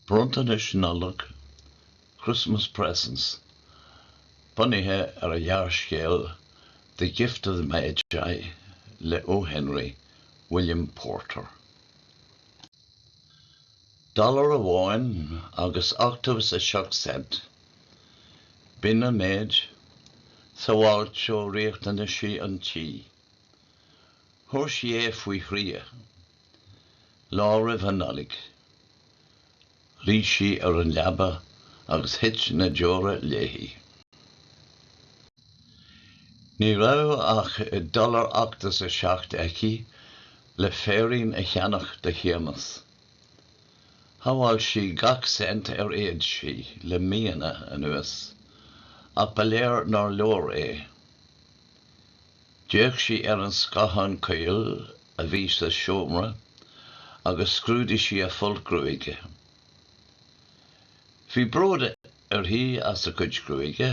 Bronntanais Nollag, Christmas Presents, bunaithe ar an ghearrscéal The Gift of the Magi le O. Henry, William Porter. Dollar amháin agus ochtó is seacht cent, b'in an méid, sabháilte ó riachtanaisí an tí. Thóg sí é faoi thrí. Lá roimh an Nollaig. Luigh sí ar an leaba agus thit na deora léi. Ní raibh ach dollar ochtó is a seacht aici le féirín a cheannach do Shéamas. Shabháil sí gach cent ar fhéad sí le míonna anuas, ach ba léir nár leor é. D'fhéach sí ar an scáthán caol a bhí sa seomra agus scrúdaigh sí a folt gruaige. Bhí bród uirthi as a cuid gruaige,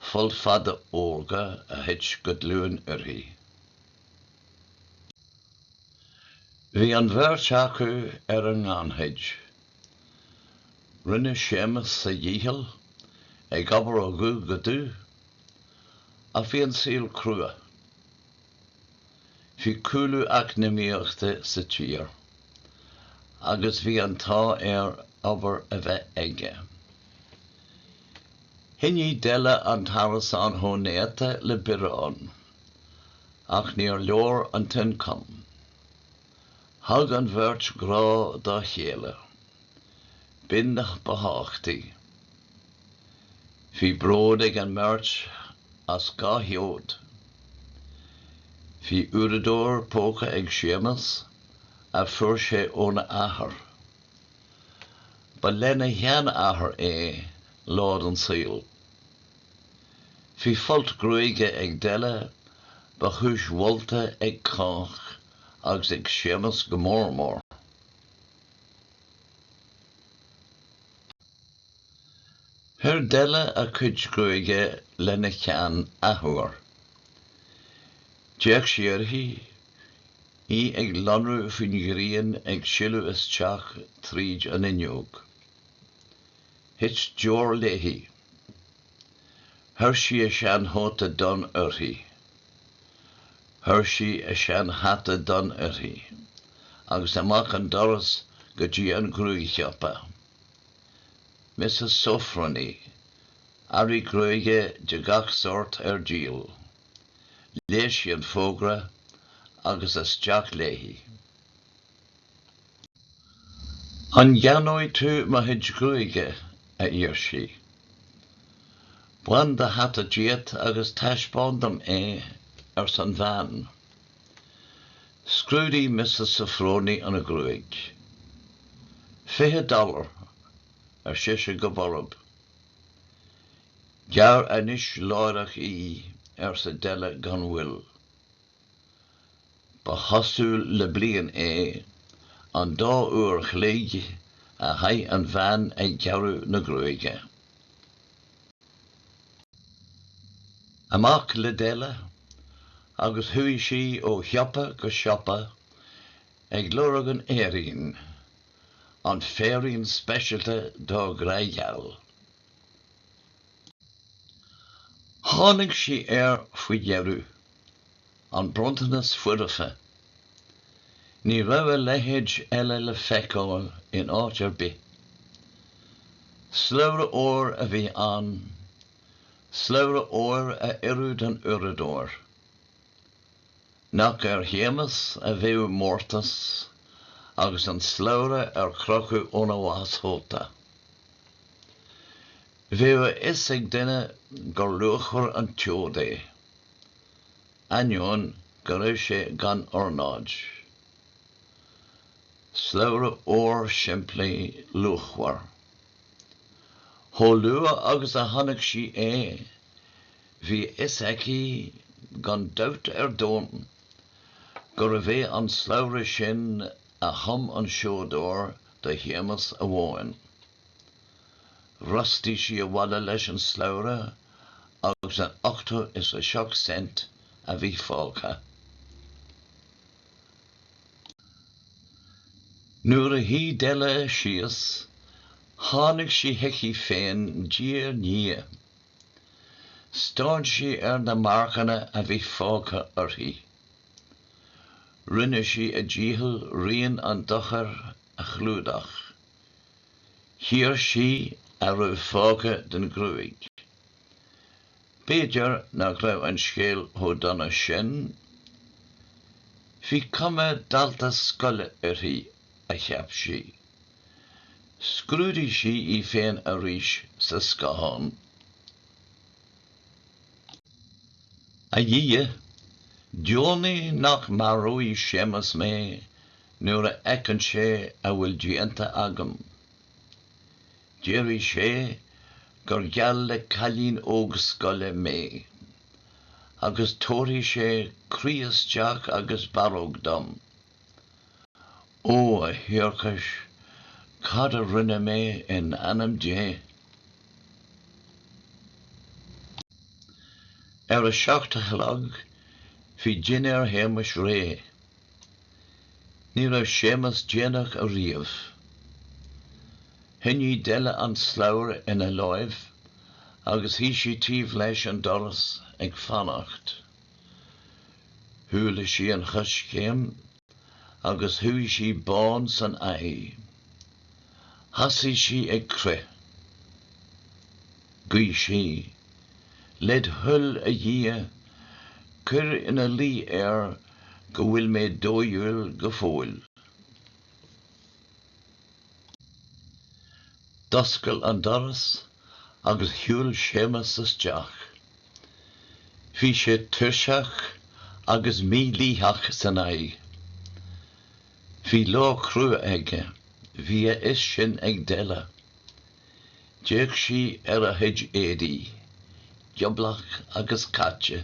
folt fada órga a thit go dlúth uirthi. Bhí an bheirt acu ar an ngannchuid. Rinne Séamas a dhícheall, ag obair ó dhubh go dubh, Ach bhí an saol crua. Bhí cúlú eacnamaíochta sa tír agus bhí an t-ádh air obair a bheith aige. Choinnigh Della an t-arasán chomh néata le biorán, ach níor leor an t-ioncam. Thug an bheirt grá dá chéile, b'in ab ba thábhachtaí. Bhí bród ag an mbeirt as dhá sheod. Bhí uaireadóir póca ag Séamas a fuair sé óna athair. Ba lena sheanathair é lá den saol. Bhí folt gruaige ag Della ba chúis mholta ag cách agus ag Séamas go mór mór. Chuir Della a cuid gruaige lena cheann athuair. D'fhéach sí uirthi, í ag lonrú faoin ghrian ag sileadh isteach tríd an fhuinneog. Thit deor léi. Chuir sí a seanchóta donn uirthi. Chuir sí a seanhata donn uirthi agus amach an doras go dtí an gruaigshiopa. Mrs Sofronie, earraí gruaige de gach sórt ar díol. Léigh sí an fógra agus isteach léi. An gceannóidh tú mo chuid gruaige? a d'iarr sí. Bain do hata díot agus taispeáin dom é, arsa an bhean. Scrúdaigh Mrs. Sofronie an ghruaig. Fiche dollar, ar sise go borb. Gearr anois láithreach í, arsa Della gan mhoill. Ba chosúil le bliain é an dá uair a chloig a chaith an bhean ag gearradh na gruaige. Amach le Della agus chuaigh sí ó shiopa go siopa ag lorg an fhéirín, an féirín speisialta dá grágheal. Tháinig sí air faoi dheireadh. An bronntanas foirfe. Ní raibh a leithéid eile le feiceáil in áit ar bith. Slabhra óir a bhí ann, slabhra óir a oireadh don uaireadóir. Nach ar Shéamas a bheadh an mórtas agus an slabhra ar crochadh óna bhástchóta. Bheadh a fhios ag duine gur luachmhar an tseod é. ainneoin go raibh sé gan ornáid. Slabhra óir simplí luachmhar. Chomh luath agus a chonaic sí é, bhí a fhios aici gan dabht ar domhan gurbh é an slabhra sin a chum an seodóir do Shéamas amháin. Bhrostaigh sí abhaile leis an slabhra agus an ochtó is a seacht cent a bhí fágtha. Nuair a shuigh Della síos, tháinig sí chuici féin diaidh ndiaidh. Stán sí ar na marcanna a bhí fágtha uirthi. Rinne sí a dícheall rian an dochair a chlúdach. Chíor sí a raibh fágtha den ghruaig. B'fhéidir nach raibh an scéal chomh dona sin. Bhí cuma dalta scoile uirthi, a cheap sí. Scrúdaigh sí í féin arís sa scáthán. A Dhia, deonaigh nach maróidh Séamas mé Nuair a fheiceann sé a bhfuil déanta agam, déarfaidh sé gur geall le cailín óg scoile mé, agus tabharfaidh sé croí isteach agus barróg dom. Ó, a thiarcais, cad a rinne mé in ainm Dé? Ar a seacht a chlog, bhí dinnéar Shéamais réidh. Ní raibh Séamas déanach ariamh. Choinnigh Della an slabhra ina láimh agus shuigh sí taobh leis an doras ag fanacht. Chuala sí an choiscéim agus chuaigh sí bán san aghaidh. Thosaigh sí ag crith. Ghuigh sí, Led thoil, a Dhia, cuir ina luí air go bhfuil mé dóighiúil go fóill. D'oscail an doras agus shiúil Séamas isteach. Bhí sé tuirseach agus mílítheach san aghaidh. Bhí lá crua aige, bhí a fhios sin ag Della. D'fhéach sí ar a chuid éadaí, gioblach agus caite.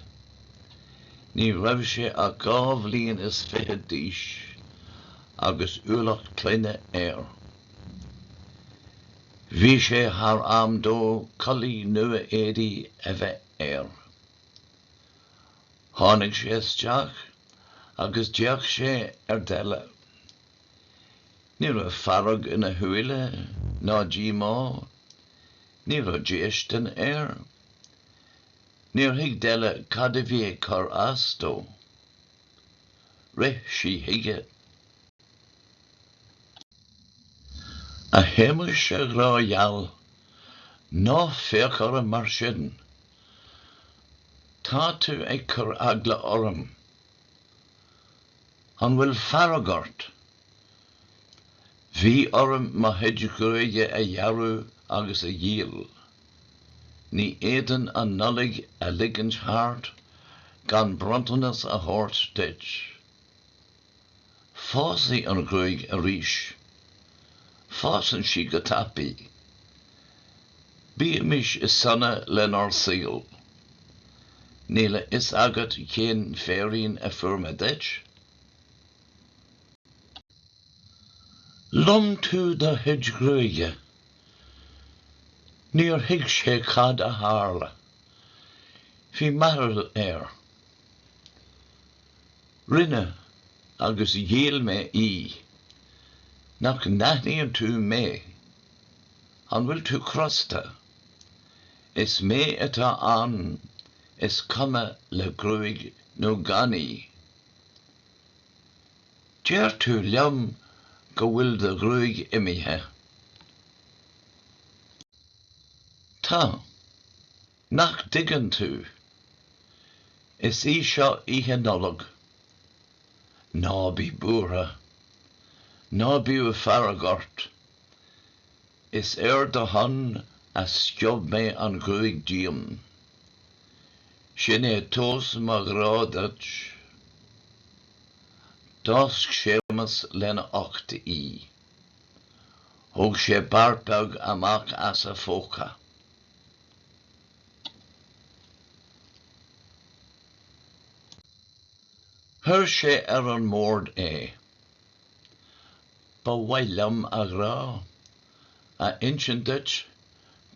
Ní raibh sé ach dhá bhliain is fiche d'aois agus ualach clainne air. Bhí sé thar am dó culaith nua éadaí a bheith air. Tháinig sé isteach agus d'fhéach sé ar Della. Ní raibh fearg ina shúile, ná díomá. Ní raibh déistin air. Níor thuig Della cad a bhí ag cur as dó. Rith sí chuige. 'A Shéamais, a ghrá geal, ná féach orm mar sin! Tá tú ag cur eagla orm. An bhfuil fearg ort? Bhí orm mo chuid gruaige a ghearradh agus a dhíol. Ní fhéadfainn an Nollaig a ligint thart gan bronntanas a thabhairt duit. Fásfaidh an ghruaig arís. Fásann sí go tapaidh. Bímis sona lenár saol. Níl a fhios agat cén féirín a fuair mé duit? Lom tú do chuid gruaige. Níor thuig sé cad a tharla. Bhí mearbhall air. Rinne, agus dhíol mé í. Nach n-aithníonn tú mé? An bhfuil tú crosta? Is mé atá ann, is cuma le gruaig nó gan í. Deir tú liom go bhfuil do ghruaig imithe. Tá. Nach dtuigeann tú? Is í seo Oíche Nollag. Ná bí buartha. Ná biodh fearg ort. Is ar do shon a sciob mé an ghruaig díom. Sin é tomhas mo ghrá duit. D'fháisc Séamas lena ucht í. Thóg sé beart beag amach as a phóca. Chuir sé ar an mbord é. Ba mhaith liom, a ghrá, a insint duit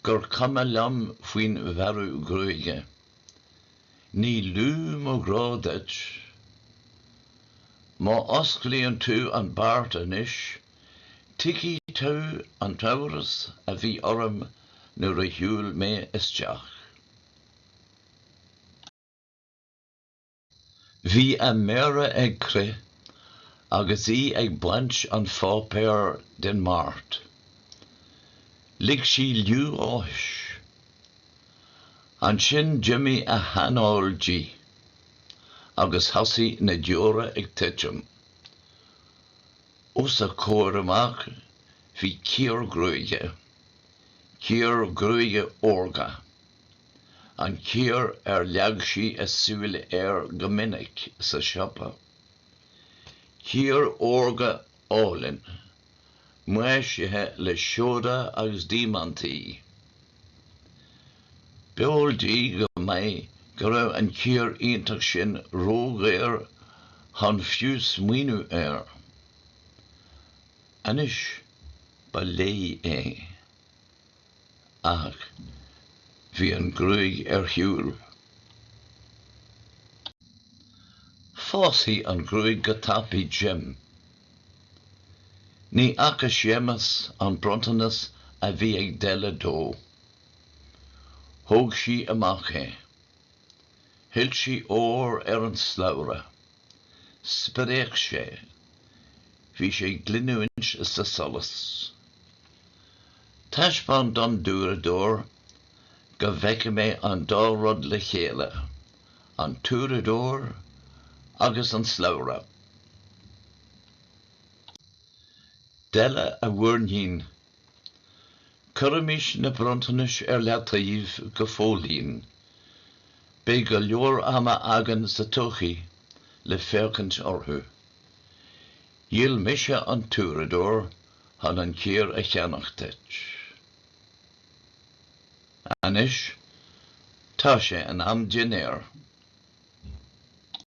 gur cuma liom faoin bhearradh gruaige. Ní lú mo ghrá duit. Má osclaíonn tú an beart anois, Tuigfidh tú an t-amhras a bhí orm nuair a shiúil mé isteach. Bhí a méara ag crith agus í ag baint an pháipéir den mbeart. Lig sí liú áthais. Ansin d'imigh a hanáil di agus thosaigh na deora ag titim. Os a comhair amach bhí cíor gruaige. Cíor gruaige órga. An cíor ar leag sí a súil air go minic sa siopa. Cíor órga álainn, maisithe le seoda agus diamaintí. B'eol di go maith go raibh an cíor iontach sin ródhaor chun fiú smaoineamh air. Anois ba léi é. Ach bhí an ghruaig ar shiúl. Fásfaidh an ghruaig go tapaidh, Jim. Ní fhaca Séamas an bronntanas a bhí ag Della dó. Thóg sí amach é. Shoilsigh an t-ór ar an slabhra. Spréach sé. Bhí sé ag glinniúint sa solas. Taispeáin dom d'uaireadóir go bhfeicfidh mé an dá rud le chéile, an t-uaireadóir agus an slabhra. Della a mhuirnín. Cuirimis na bronntanais ar leataobh go fóillín. Beidh go leor ama againn sa todhchaí le féachaint orthu. Dhíol mise an t-uaireadóir chun an cíor a cheannach duit. Anois, tá sé in am dinnéir.